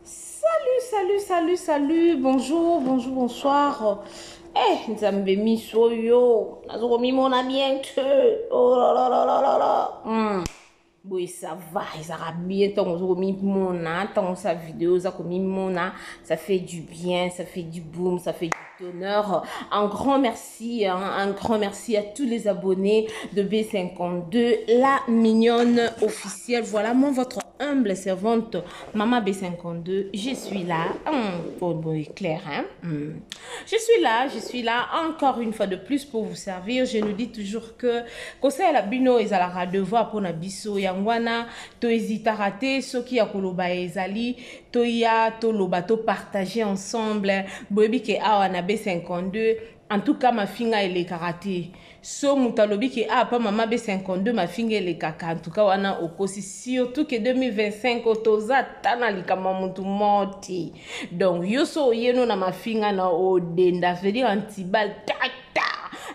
Salut, salut, salut, salut, bonjour, bonjour, bonsoir. Eh, nzambe miso yo, nazokomimona bien te. Oh là là là là là là. Mm. boye ça va ezalaka bien ntango oza komimona ntango sa video oza komimona ça fait du bien ça fait du boom ça fait du tonheur un grand merci Merci, hein, un grand merci à tous les abonnés de B52, la mignonne officielle. Voilà, moi, votre humble servante, Maman B52, je suis là. Hum, bon, bon, est clair, hein? Hum. Je suis là, je suis là encore une fois de plus pour vous servir. Je nous dis toujours que conseil la bino ezalara devoir pour na biso yangwana to hésitara te soki ya koloba ezali toya toloba to partager ensemble boyebi ke awa na b52 en tout cas mafinga elekaka te so moto alobi ke ah pa mama be 52 mafinga elekaka antuka wana okosi surtout ke 2025 oyo toza ata na likambo ya motu moo te donc yo so oyeno na mafinga na odenda vedire antibal tata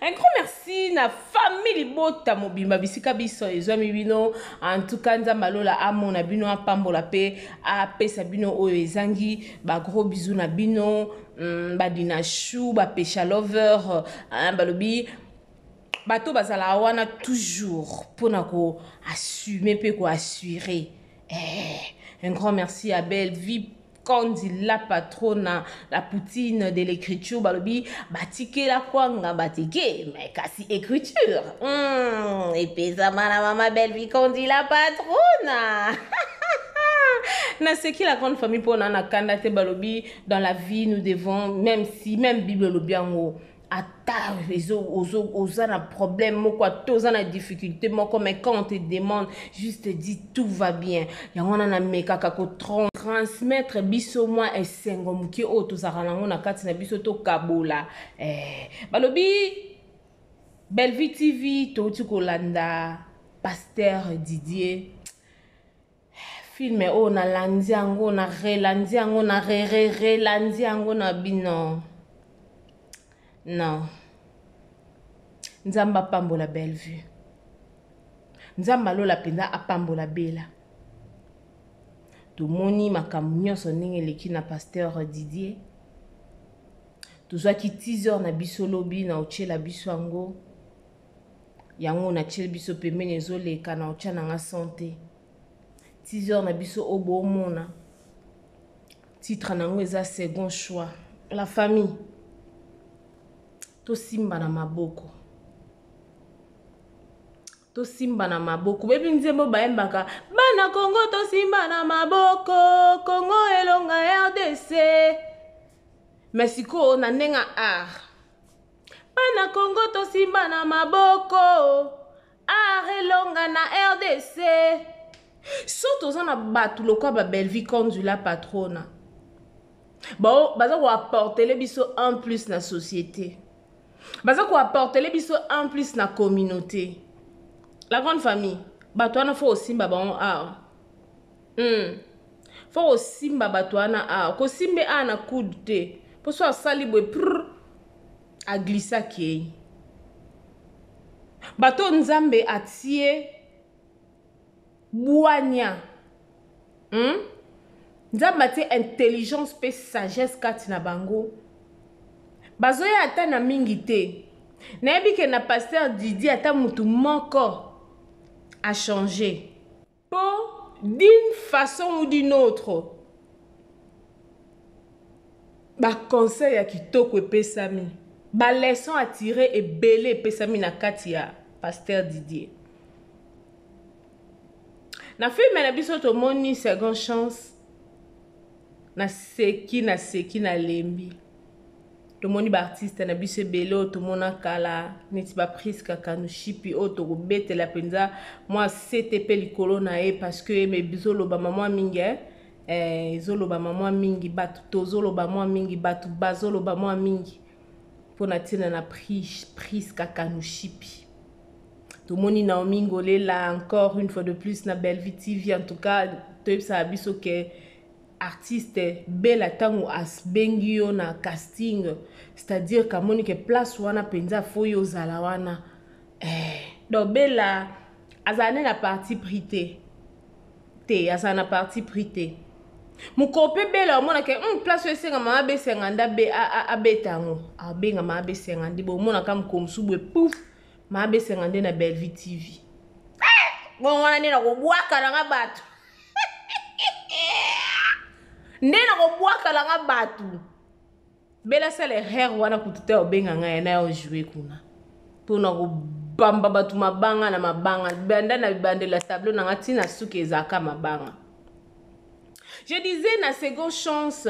un grand merci na famille libota mobimba bisika biso ezwami bino antuka nzambe alola amona bino apambola mpe apesa bino oyo ezangi ba gros bisous na bino mm, ba dinachou ba pesha lover hein, balobi bato bazalaka wana toujours mpona ko assume mpe ko assurer eh, un grand merci ya belle vie kondi la patrona la poutine de l'écriture balobi batikela kwanga batike me kasi écriture mm, epesama na mama belvi kondi la patrona naseki la grande famille mpo na na kanda te balobi dans la vie nous devons même si même bible olobi yango ata oza na problème moko ata oza na difficulté moko mais quand on te demande juste dit tout va bien yango wana namekaka kotransmettre biso mwa esengo moke oyo tozalaka nango na kati na biso tokabola eh, balobi bellevue tv touti kolanda pasteur didier Film oyo na landi yango na relandi yango na re re relandi yango na bino. Non. Nzambe apambola Bellevue. Nzambe alola mpenza apambola Bella. tomoni makambo nyonso ndenge eleki na pasteur didier tozwaki teaser na biso lobi na otyela biso yango yango na tiel biso pembeni ezo leka na otia na nga sante teaser na biso oyo bomona titre na yango eza second choix la famille tosimba na maboko tosimba na maboko bebi nzembo bayembaka bana kongo tosimba na maboko kongo elonga rdc me sikoyo na ndenge ya art Bana Congo tosimba na maboko art elonga na rdc so toza na bato lokola ba bellevie condula patrona bao baza koaportele biso un plus na société baza koaportele biso un plus na communauté la grande famille bato wana fo osimba bango awa Hum faut kosimba batu wana awa kosimbe awa na coude te po so asali boye prr a glissa kei bato oyo nzambe atie bwanya hmm? nzambe atie intelligence mpe sagesse kati na bango bazoya ata na mingi te nayebi ke na paster didi ata motu moko achange Po d'une façon ou d'une autre ba conseils ya kitoko epesami, ba leçons à tirer ebele epesami na kati ya Pasteur Didier. Na film na biso tomoni second chance, naseki naseki nalembi. tomoni baartiste na biso ebele oyo tomona kala neti bapriska kanushipi oyo tokobetela mpenza mwa sete mpe likolo na ye parceke eme bizolobama mwa mingi eh? eh, ezolobama mwa mingi bato tozoloba mwa mingi bato bazoloba mwa mingi mpo na ntina na priska kanushipi tomoni naomi ngolela encore une fois de plus na bellevue tv en tout cas toyebisaka biso ke artiste bella tango asbengi yo na casting c'est à dire kamoni ke place wana penza fo yo ozala wana eh. donc bella azala nde na parti pris te te azala na parti pris te mokolo mpe bela omonaka mm, place oyo esenga mama besenga nde abeta yango abenga mama besenga nde bomonaka mokolo mosusu boye pouf mama besenga nde na bellevue tv eh! bongo wana nde nakobwaka nanga bato nde na kobwakala nga bato bela sala erreur wana kutu te obenga nga ya na yo joue kuna mpo na kobamba bato mabanga na mabanga banda na bibandela tableau na nga ntina suki ezalaka mabanga je disais na seconde chance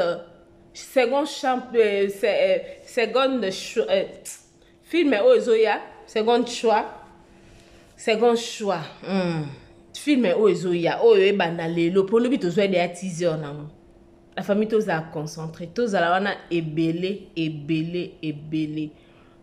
seconde champ euh, euh, seconde euh, Film oyo ezoya second choix. Second choix. Mm. Film oyo ezoya oyo ebanda lelo po lobi tozwa deya teaser nango. La famille tozala concentré, tozala wana ebele ebele ebele.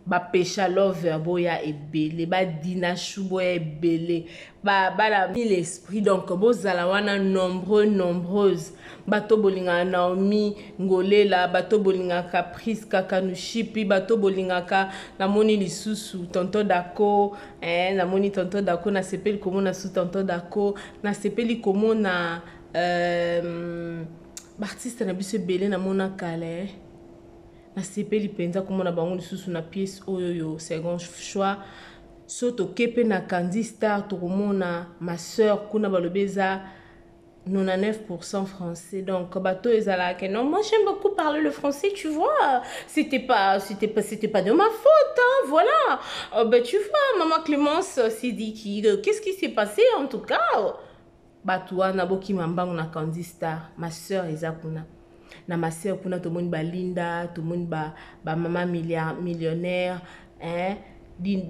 bapesha lover boya ebele badina shu boya ebele babala mille esprit donc bozala wana nombreux nombreuse bato bolingaka naomi ngolela bato bolingaka priska kanushipi bato bolingaka namoni lisusu tonto dako eh, namoni tonto dako nasepeli komona su tonto dako nasepeli komona euh, baartiste na biso ebele namona kala eh. nasepeli mpenza komona bango lisusu na piece oyo yo second choix Soki toke pe na kandy star tokomona ma soeur kuna balobi eza 99 pourcent français donc bato ezalaka ke non moi j'aime beaucoup parler le français tu vois c'était pas c'était pas c'était pas de ma faute hein, voilà euh, bah, tu vois maman Clémence s'est dit qui euh, qu'est-ce qui s'est passé en tout cas batu wana bokima mbangu na Candy Star ma sœur eza kuna na ma sœur kuna tomoni ba Linda tomoni ba ba mama millionnaire hein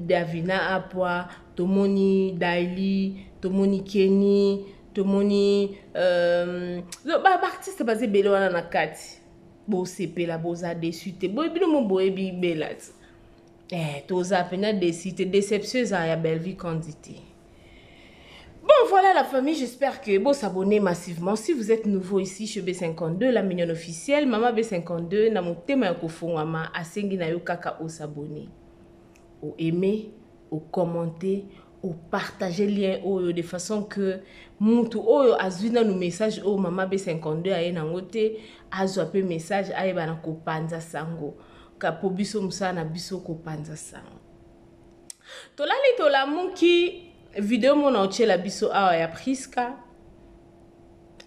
Davina Apwa tomoni Daily tomoni Kenny tomoni euh, ba artiste baza ebele wana na kati bosepela boza desu te boye bino mo boyebi belati eh, toza mpena desi te déception eza ya bellevue candite Bon, voilà la famille. J'espère que vous vous abonnez massivement. Si vous êtes nouveau ici chez B52, la mignonne officielle, Maman B52, na motema ya kofongama, asengi na yo kaka au s'abonner. Au aimer, au commenter, au partager lien oyo de façon que mutu oyo azui na no message oyo Maman B52 aye na ngote, azwa pe message aye bana kopanza sango. Kapo biso musana biso kopanza sango. tolali tolamuki video mona otyela biso awa ya priska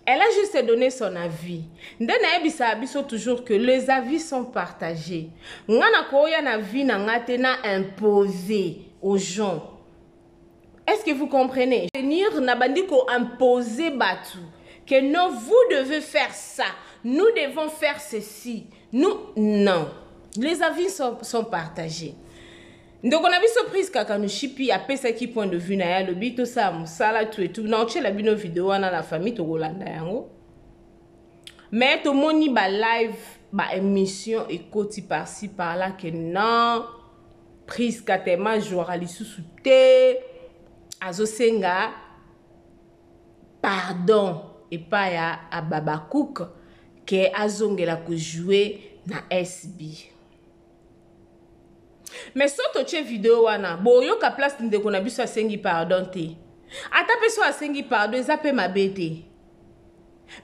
elle a juste donné son avis nde nayebisaka biso toujours que les avis sont partagés nga nakoya na vie na nga te na impose aux gens est ce que vous comprenez venir na bandi ko imposer batu que non vous devez faire ça nous devons faire ceci nous non les avis sont, sont partagés ndeko na biso prise kakanoshipi apesaki point de vue na ye alobi tosala mosala tu etu na otyela bino video wana na famille tokolanda yango me tomoni balive baémission ekoti parci parla ke non Prisca tellement jouaka lisusu te azosenga pardon epai ya Hababacuc ke azongela kojouer na SB. Mais soki totie video wana boyoka place ndeko na biso asengi pardon te. Ata mpe soki asengi pardon eza mpe mabe te.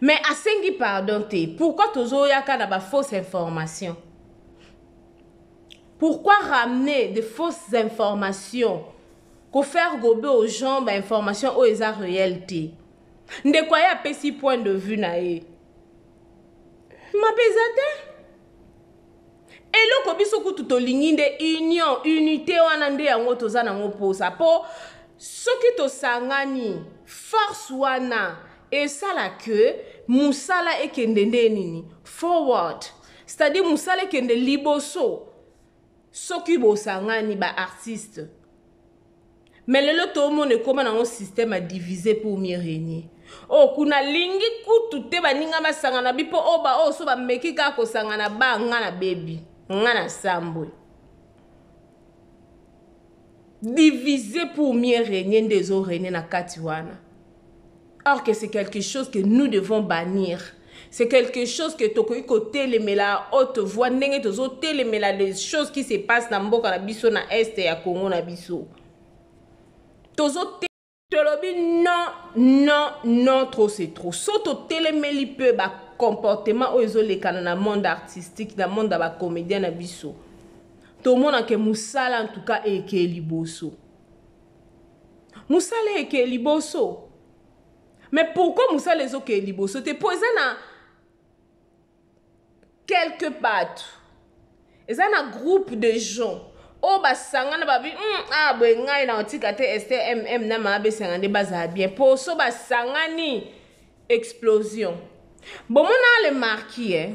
Mais asengi pardon te. Pourquoi tozoyaka na ba fausses informations? Pourquoi ramener de fausses informations Ko faire gober aux gens ba informations oyo eza réel te. Ndeko aye apesi point de vue na ye. Mabe eza te. Eloko biso kutu tolingi nde union, unité wana nde yango toza nango posa po soki tosangani force wana esala que musala ekende nde nini forward c'est à dire mosala ekende liboso soki bosangani baartiste me lelo toomona ekóma nango système ya divise pour mieux régner oyo oh, kuna lingi kutu te baninga basangana bi mpo oyo oh, baoyo oh, so bameki kaka kosangana ba nga na bebi nga na sambwe divise pour mieux régner nde ezo régner na kati wana or que c'est quelque chose que nous devons bannir c'est quelque chose que tokoki kotelemela à haute voix ndenge tozotelemela les choses qui se passe na mboka na biso na est ya congo na biso tozo tolobi non non non trop c'est trop so totelemeli mpe bacomportement oyo ezolekana na monde artistique na monde ya bacomédien na biso tomonake mosala en tout cas ekei liboso musala eke liboso mais pourquoi musala ezokee liboso te mpo eza na quelque bato eza na groupe de gens oyo oh, basangana babi mm, ah boye ngai na otika te stmm na maabesanga nde bazala bien mpo so basangani Explosion bomona le marquis eh?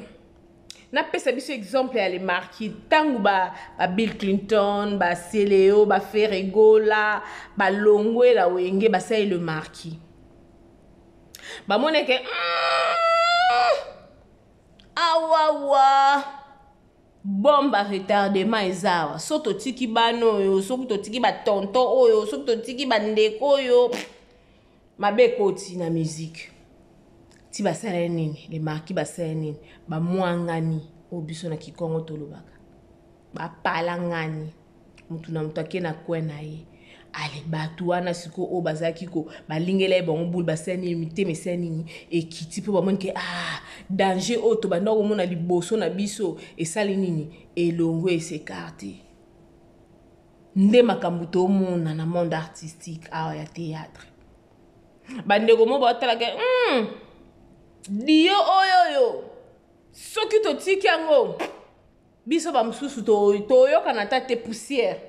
napesa biso exemple ya le marquis ntango ba, ba bill clinton ba celeo ba feregola balongwe la wenge basali le marquis bamoni eke mm, awawa bombe ya retardement eza awa soki totiki bana oyo soki totiki batonton oyo soki totiki bandeko oyo mabe ekoti na musique ti basala ye nini le marquis basala ye nini bamwangani oyo biso na kikongo tolobaka bapalangani motu na motu ake na kwe na ye ale bato wana sikoyo oyo bazalaki ko balingela ye bango bule basala nini mitema esala nini ekiti mpo bamoni ke ah danger oyo tobanda komona liboso na biso esali nini elongo esekarte nde makambo tomona na monde artistique awa ya théâtre bandeko mo baotalaka mm, dio oyo oyo soki totiki yango biso bamosusu toyokana ata te poussière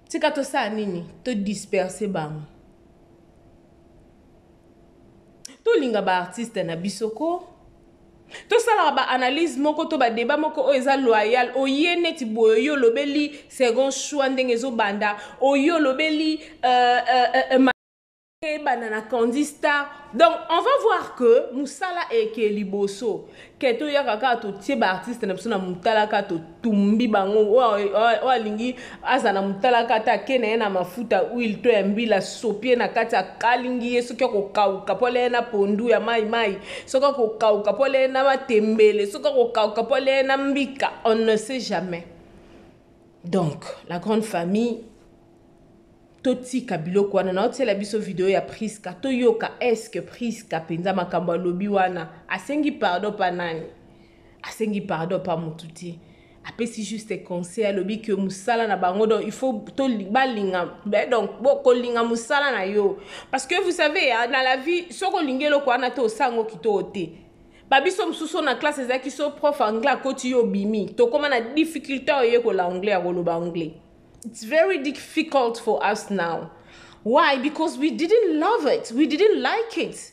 tika tosala nini todisperse bango tolinga baartiste na biso ko tosalaka ba analyse moko to ba debat moko oyo eza loyal oye neti boye oye olobeli second choix ndenge ezobanda oye olobeli euh, euh, euh, euh eyebana na candy star donc on va voir que mosala eke liboso ke toyaka kaka totie baartiste na biso na motala kaka tumbi bango oyo alingi aza na motalaka ata ake na ye na mafuta huile to ya mbila sopi ye na kati akalingi ye soki akokauka mpo alie na pondu ya mai mai soki akokauka mpo alie na matembele soki akokauka mpo alie na mbika on ne sait jamais donc la grande famille totika biloko wana naotiela biso video ya priska toyoka eske priska mpenza makambo alobi wana asengi pardon mpa nani asengi pardon pa mutu te apesi juste conseil alobi ke mosala na bango donc il faut balinga eh, donc kolinga mosala na yo parce que vous savez na la vie soki olingi eloko wana te osango kitoko te babiso mosusu na classe ezalaki so prof anglais akoti yo obimi tokóma na difficulté oyekola anglais ya koloba anglais it's very difficult for us now why because we didn't love it we didn't like it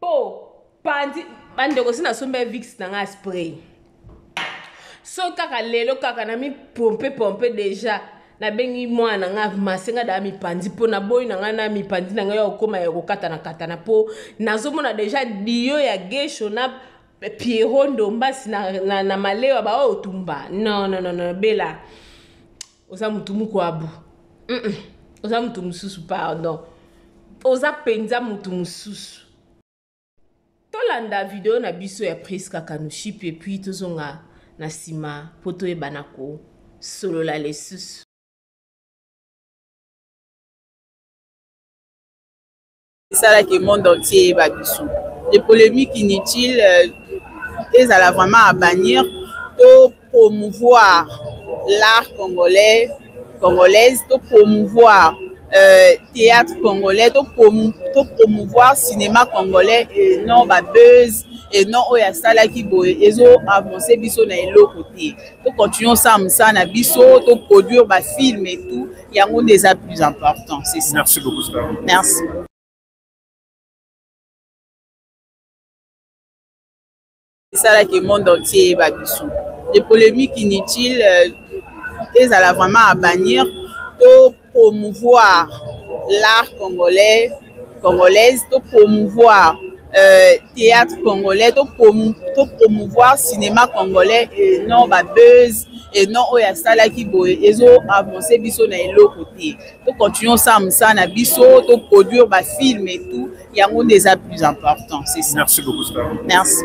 po panzi bandeko si nasombi avix na ngai spray so kaka lelo kaka na mi pompe pompe deja nabengi mwana na ngai mase ngai daa mipanzi mpo naboyi na ngai na mipanzi na ngai ya kokóma ya kokatana katana mpo nazomona deja dio ya gesho na pierro ndombasi na, na, na malewa baoyo tumba non non non non bela oza mutu mukwabu mm oza mutu mususu pardon oza penza mutu mususu tolanda video na biso ya prisca kanuship epuis tozonga na nsima mpo toyebana kosolola lisusu esalaki monde entier eyeba biso de polémique inutile euh, ezala vraiment à bannir to promouvoir l'art congolais congolaise to promouvoir euh, théâtre congolais to, prom to promouvoir cinéma congolais et non ba buzz et non oyo asalaki boye ezo avance biso na eloko te to continuons sa mosala na biso to produire bafilme et tout yango nde eza plus important c'est ça merci beaucoup star merci esalaki monde entier eyeba biso les polémiques inutiles euh, ezala vraiment à bannir to promouvoir l'art congolais congolaise to promouvoir euh, théâtre congolais to, prom to promouvoir cinéma congolais et non ba buzz et non oyo asalaki boye ezo avance biso na eloko te to continuer osala mosala na biso to produire bafilme et tout yango nde eza plus important c'est ça merci beaucoup merci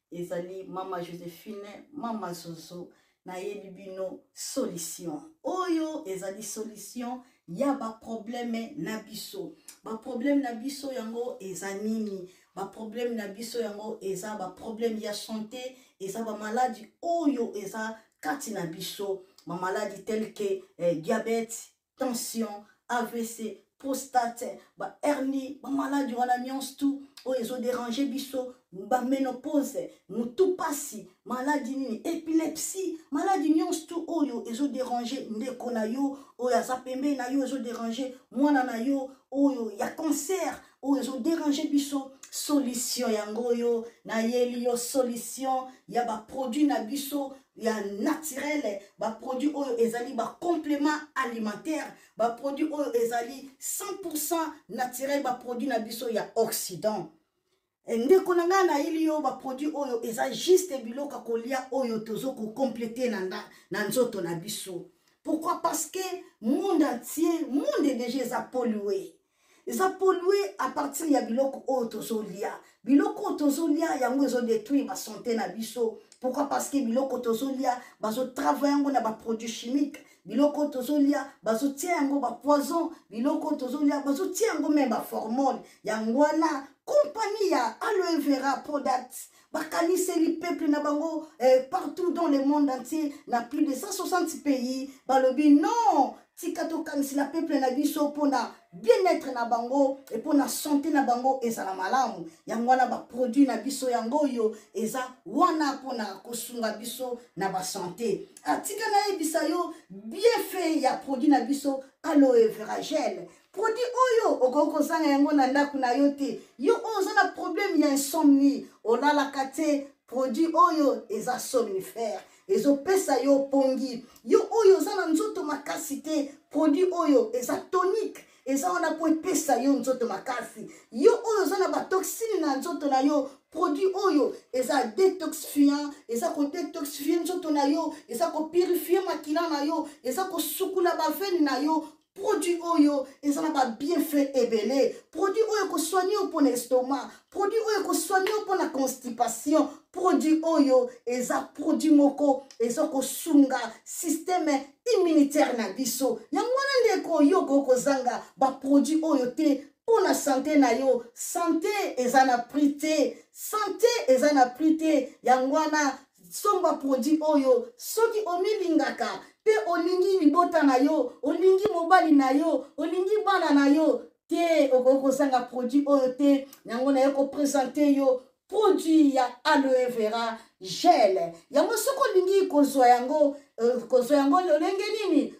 ezali mama josephine mama zozo nayebi bino solution oyo ezali solution ya baprobleme na biso baprobleme na biso yango eza nini baprobleme na biso yango eza baprobleme ya sante eza bamaladi oyo eza kati na biso bamaladi telke eh, diabete tension avc prostate bahernie bamaladi wana nyonso tu oyo ezoderange biso baménopause motu mpasi maladi nini epilepsie maladi nyonso tu oyo ezoderange ndeko na yo oyo aza pembeni na yo ezoderange mwana na yo oyo ya cancer oyo ezo déranger biso solution yango oyo nayeli yo solution ya baproduit na biso ya naturele baproduit oyo ezali bacomplément alimentaire baproduit oyo ezali 100 naturel baproduit na biso ya occident Eh, ndeko na ngai nayeli yo baproduit oyo eza juste biloko kolia oyo tozo kocomplete na, na, na nzoto na biso pourquoi parce que monde entier monde deja eza polue eza polue à partir ya biloko oyo tozolia biloko oyo tozolia yango ezodetruire basante na biso pourquoi parce que biloko tozolia bazotravaille yango na baproduit chimique biloko tozolia bazotia yango bapoison biloko tozolia bazotia yango meme baformone yango wana kompani ya aloe vera product bakaniseli peuple na bango eh, partout dans le monde entier na plus de 160 pays balobi non tika tokanisela peuple na biso mpona bien-être na bango e mpo na sante na bango ezala malamu yango wana baproduit na biso yango oyo eza wana mpo na kosunga biso na basante atika ah, nayebisa yo bienfait ya produit na biso aloe veragel produit oyo okoki kozanga yango na ndako na yo te yo oyo oza na problème ya insomnie olalaka te produit oyo eza somnifère ezopesa yo pongi yo oyo oza na nzoto makasi te produit oyo eza tonique eza wana mpo epesa yo nzoto makasi yo oyo oza na batoxine na nzoto na yo produit oyo eza detoxifiant eza kodetoxifie nzoto na yo eza kopurifie makila na yo eza kosukula bavene na yo produit oyo eza na babienfait ebele produit oyo ekosoigne yo mpo na estomac produit oyo ekosoigne yo mpo na constipation produit oyo eza produit moko eza kosunga systeme immunitaire na biso yango wana ndeko yo okoki kozanga baproduit oyo te mpo na sante na yo sante eza na prix te sante eza na prix te yango wana somba produit oyo soki omilingaka mpe olingi libota na yo olingi mobali na yo olingi bana na yo te okoki kozanga produit oyo te yango naye kopresente yo produit ya aloe vera gel yango soki olingi kozwa yango euh, kozwa yango lolenge nini